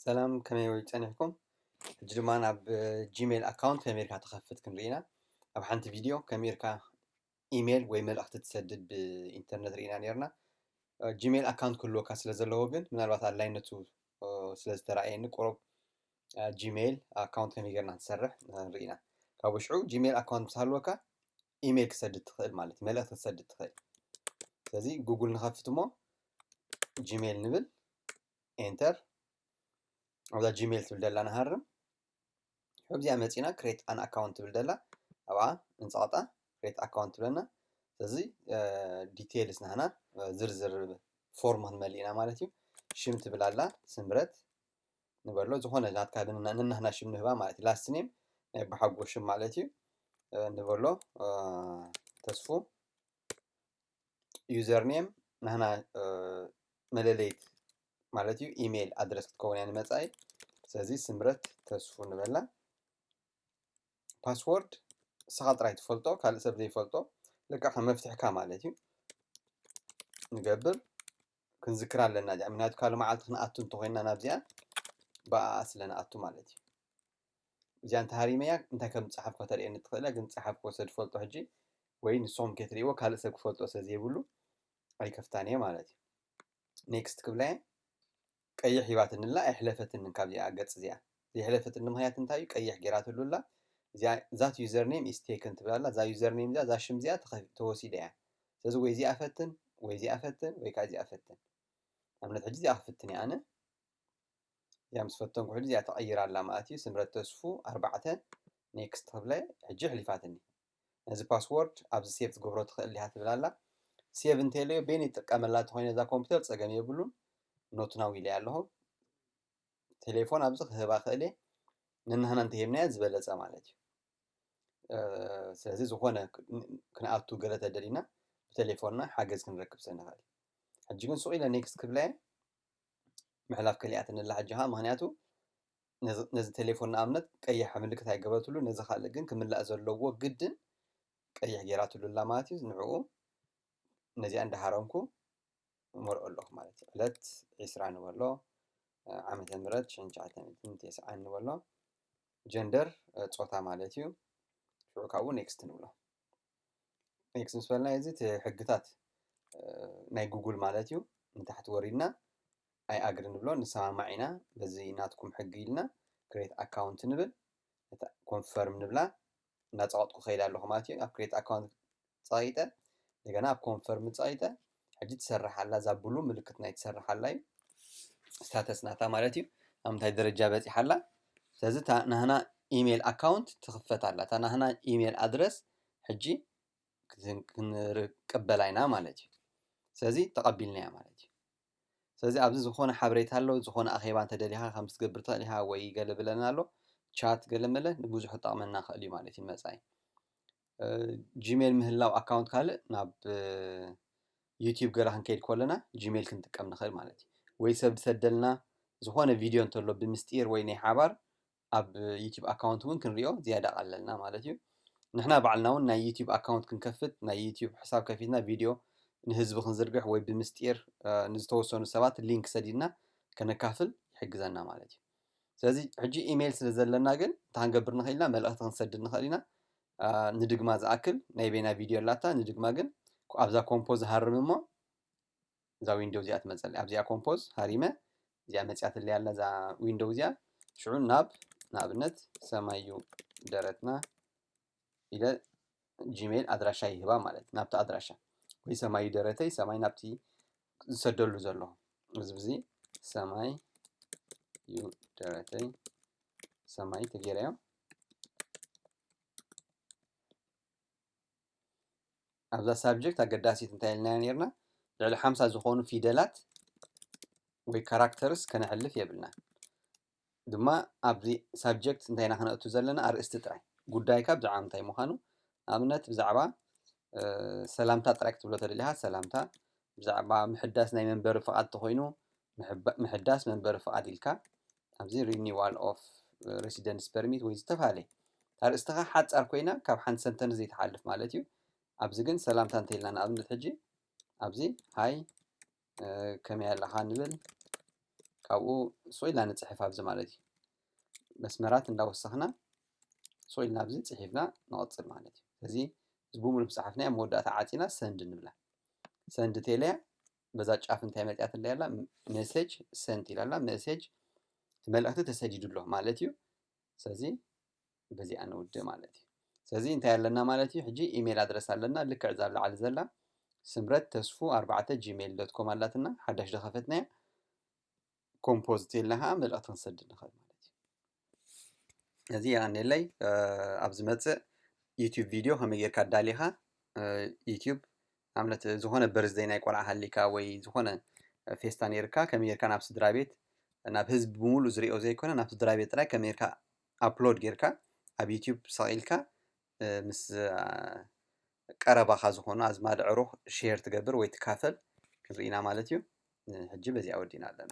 ሰላም ከመይ ወይ ጸኒሕኩም ሕጂ ድማ ናብ ጂሜል ኣካውንት ከመይ ኢልካ ትኸፍት ክንርኢ ኢና ኣብ ሓንቲ ቪድዮ ከመይ ኢልካ ኢሜል ወይ መልእኽቲ ትሰድድ ብኢንተርነት ርኢና ነርና ጂሜል ኣካውንት ክህልወካ ስለ ዘለዎ ግን ምናልባት ኣድላይነቱ ስለ ዝተረኣየኒ ቁሩብ ጂሜል ኣካውንት ከመይ ጌርና ትሰርሕ ንርኢ ኢና ካብ ውሽዑ ጂሜል ኣካውንት ምስ ሃልወካ ኢሜል ክሰድድ ትኽእል ማለት መልእኽቲ ክሰድድ ትኽእል ስለዚ ጉግል ንኸፍት እሞ ጂሜል ንብል enter ኣብዛ ጂሜል ትብል ደላ ንሃርም ኣብዚኣ መፂና ክሬት ኣን ኣካውንት ትብል ደላ ኣብኣ እንፀቕጣ ክሬት ኣካውንት ትብለና ስለዚ ዲቴይልስ ናህና ዝርዝር ፎርም ክንመልእ ኢና ማለት እዩ ሽም ትብል ኣላ ስምረት ንበሎ ዝኾነ ናትካ ንናህና ሽም ንህባ ማለት እዩ ላስት ኔም ናይ በሓጎ ሽም ማለት እዩ ንበሎ ተስፉ ዩዘር ኔም ንሕና መለለይት ማለት እዩ ኢሜይል ኣድረስ ክትከውን እያ ንመፃኢ ስለዚ ስምረት ተስፉ ንበላ ፓስወርድ ንስኻ ጥራይ ትፈልጦ ካልእ ሰብ ዘይፈልጦ ልክዕ ከም መፍትሕካ ማለት እዩ ንገብር ክንዝክር ኣለና እዚኣ ምክንያቱ ካልእ መዓልቲ ክንኣቱ እንተኮይንና ናብዚኣ ብኣኣ ስለ ንኣቱ ማለት እዩ እዚኣ እንተ ሃሪመያ እንታይ ከም ዝጸሓፍኩ ከተርእየኒ ትኽእል እያ፣ ግን ዝጸሓፍኩዎ ስለ ዝፈልጦ ሕጂ ወይ ንስኹም ከይትርእይዎ ካልእ ሰብ ክፈልጦ ስለ ዘይብሉ ኣይከፍታን እየ ማለት እዩ። ኔክስት ክብላ እየ። ቀይሕ ሂባትኒ ኣላ ኣይሕለፈትንን ካብዚኣ ገጽ እዚኣ። ዘይሕለፈትኒ ምኽንያት እንታይ እዩ? ቀይሕ ጌራትሉ ኣላ። እዚኣ ዛት ዩዘር ኔም ኢዝ ቴክን ትብል ኣላ። እዛ ዩዘር ኔም እዚኣ እዛ ሽም እዚኣ ተኸፊ- ተወሲዳ እያ። ስለዚ ወይ እዚኣ ፈትን ወይ እዚኣ ፈትን ወይ ከዓ እዚኣ ፈትን። ንኣብነት ሕጂ እዚኣ ክፍትን እየ ኣነ። እዚኣ ምስ ፈተንኩ ሕጂ እዚኣ ተቐይራ ኣላ ማለት እዩ ስምረት ተስፉ ኣርባዕተ ኔክስት ክብለ ሕጂ ኣሕሊፋትኒ ነዚ ፓስወርድ ኣብዚ ሴቭ ትገብሮ ትኽእል ዲኻ ትብል ኣላ ሴቭ እንተለዮ ቤን ይጥቀመላ ተኮይነ እዛ ኮምፒውተር ፀገም የብሉን ኖትናው ኢለያ ኣለኹ ቴሌፎን ኣብዚ ክህባ ክእል እየ ንናህና እንተሂብናዮ ዝበለፀ ማለት እዩ ስለዚ ዝኾነ ክንኣቱ ገለ ተደሊና ብቴሌፎንና ሓገዝ ክንረክብ ስለ ንኽእል ሕጂ ግን ሱቕ ኢለ ኔክስት ክብለ እየ ምሕላፍ ከሊኣትኒ ኣላ ሕጂ ከኣ ምክንያቱ ነዚ ነዚ ቴሌፎን ንኣብነት ቀይሕ ምልክት ኣይገበረትሉን ነዚ ካልእ ግን ክምላእ ዘለዎ ግድን ቀይሕ ጌራትሉ ኣላ ማለት እዩ ንዕኡ ነዚኣ እንዳሃረምኩ እመልኦ ኣለኩ ማለት እዩ ዕለት ዕስራ ንበሎ ዓመተ ምህረት ሽሕን ትሽዓተን ሚእትን ተስዓን ንበሎ ጀንደር ጾታ ማለት እዩ ሽዑ ካብኡ ኔክስት ንብሎ ኤክስ ምስ በልና እዚ እቲ ሕግታት ናይ ጉግል ማለት እዩ ንታሕቲ ወሪድና ኣይ ኣግሪ ንብሎ ንሰማማዕ ኢና በዚ ናትኩም ሕጊ ኢልና ክሬት ኣካውንት ንብል እታ ኮንፈርም ንብላ እናፀቐጥኩ ከይድ ኣለኹ ማለት እዩ ኣብ ክሬት ኣካውንት ፀቒጠ እንደገና ኣብ ኮንፈርም ፀቒጠ ሕጂ ትሰርሕ ኣላ እዛ ብሉ ምልክት ናይ ትሰርሕ ኣላ እዩ ስታተስ ናታ ማለት እዩ ኣብ ምንታይ ደረጃ በፂሓ ኣላ ስለዚ እታ ናህና ኢሜይል ኣካውንት ትኽፈት ኣላ እታ ናህና ኢሜይል ኣድረስ ሕጂ ክንቀበላ ኢና ማለት እዩ ስለዚ ተቐቢልና እያ ማለት እዩ ስለዚ ኣብዚ ዝኾነ ሓበሬታ ኣሎ ዝኾነ ኣኼባ እንተደሊኻ ከም ትገብር ትኽእል ኢኻ ወይ ገለ ብለና ኣሎ ቻት ገለ መለ ንብዙሕ ጠቕመና ክእል እዩ ማለት እዩ መፃኢ ጂሜል ምህላው ኣካውንት ካልእ ናብ ዩቲዩብ ገለ ክንከይድ ከለና ጂሜል ክንጥቀም ንኽእል ማለት እዩ ወይ ሰብ ዝሰደልና ዝኾነ ቪድዮ እንተሎ ብምስጢር ወይ ናይ ሓባር ኣብ ዩቲዩብ ኣካውንት እውን ክንሪኦ ዝያዳ ቀለልና ማለት እዩ ንሕና ባዕልና እውን ናይ ዩቲዩብ ኣካውንት ክንከፍት ናይ ዩቲዩብ ሕሳብ ከፊትና ቪድዮ ንህዝቢ ክንዝርግሕ ወይ ብምስጢር ንዝተወሰኑ ሰባት ሊንክ ሰዲድና ከነካፍል ይሕግዘና ማለት እዩ ስለዚ ሕጂ ኢመይል ስለ ዘለና ግን እንታይ ክንገብር ንኽእል ኢና መልእኽቲ ክንሰድድ ንኽእል ኢና ንድግማ ዝኣክል ናይ በይና ቪድዮ ኣላታ ንድግማ ግን ኣብዛ ኮምፖዝ ሃርም እሞ እዛ ዊንዶው እዚኣ ትመፀለ ኣብዚኣ ኮምፖዝ ሃሪመ እዚኣ መፅያትለይ ኣላ እዛ ዊንዶው እዚኣ ሽዑ ናብ ንኣብነት ሰማዩ ደረትና ኢለ ጂሜል ኣድራሻ ይህባ ማለት ናብቲ ኣድራሻ ወይ ሰማይ ደረተይ ሰማይ ናብቲ ዝሰደሉ ዘሎ እዚ ብዚ ሰማይ ዩ ደረተይ ሰማይ ተጌረዮ ኣብዛ ሳብጀክት ኣገዳሲት እንታይ ኢልና ነርና ልዕሊ ሓምሳ ዝኾኑ ፊደላት ወይ ካራክተርስ ከነሕልፍ የብልና ድማ ኣብዚ ሳብጀክት እንታይ ኢና ክነእቱ ዘለና ኣርእስቲ ጥራይ ጉዳይካ ብዛዕባ ምንታይ ምዃኑ ኣብነት ብዛዕባ ሰላምታ ጥራይ ክትብሎ ተደሊኻ ሰላምታ ብዛዕባ ምሕዳስ ናይ መንበሪ ፍቓድ ተኾይኑ ምሕዳስ መንበሪ ፍቓድ ኢልካ ኣብዚ ሪኒዋል ኦፍ ሬሲደንስ ፐርሚት ወይ ዝተፈላለየ ኣርእስትኻ ሓፃር ኮይና ካብ ሓንቲ ሰንተን ዘይትሓልፍ ማለት እዩ ኣብዚ ግን ሰላምታ እንተይልና ንኣብነት ሕጂ ኣብዚ ሃይ ከመይ ኣለኻ ንብል ካብኡ ሱቕ ኢልና ንፅሕፍ ኣብዚ ማለት እዩ መስመራት እንዳወሰኽና ሱቕ ኢልና ኣብዚ ፅሒፍና ንቐፅል ማለት እዩ ስለዚ እዚ ብምሉእ ፀሓፍና ኣብ መወዳእታ ዓፂና ሰንድ ንብላ ሰንድ ቴለያ በዛ ጫፍ እንታይ መፅያት ኣላ ያላ ሜሴጅ ሰንድ ኢላላ ሜሴጅ እቲ መልእኽቲ ተሰዲዱ ኣሎ ማለት እዩ ስለዚ በዚኣ ንውድእ ማለት እዩ ስለዚ እንታይ ኣለና ማለት እዩ ሕጂ ኢሜል ኣድረስ ኣለና ልክዕ እዛ ኣብ ላዕሊ ዘላ ስምረት ተስፉ ኣርባዕተ ጂሜል ዶት ኮም ኣላትና ሓዳሽ ዝኸፈትናያ ኮምፖዝ ተልና ከዓ መልእኽቲ ክንሰድድ ንኽእል ማለት እዩ እዚ የቀኒለይ ኣብ ዝመፅእ ዩትብ ቪድዮ ከመይ ጌርካ ኣዳሊኻ ዩትብ ኣብነት ዝኾነ በርዝደይ ናይ ቆልዓ ሃሊካ ወይ ዝኾነ ፌስታ ነይርካ ከመይ ጌርካ ናብ ስድራ ቤት ናብ ህዝቢ ብምሉእ ዝሪኦ ዘይኮነ ናብ ስድራ ቤት ጥራይ ከመይ ጌርካ ኣፕሎድ ጌርካ ኣብ ዩቱብ ሰቒልካ ምስ ቀረባኻ ዝኾኑ ኣዝማድ ዕሩኽ ሼር ትገብር ወይ ትካፈል ክንርኢና ማለት እዩ ሕጂ በዚኣ ወዲና ኣለና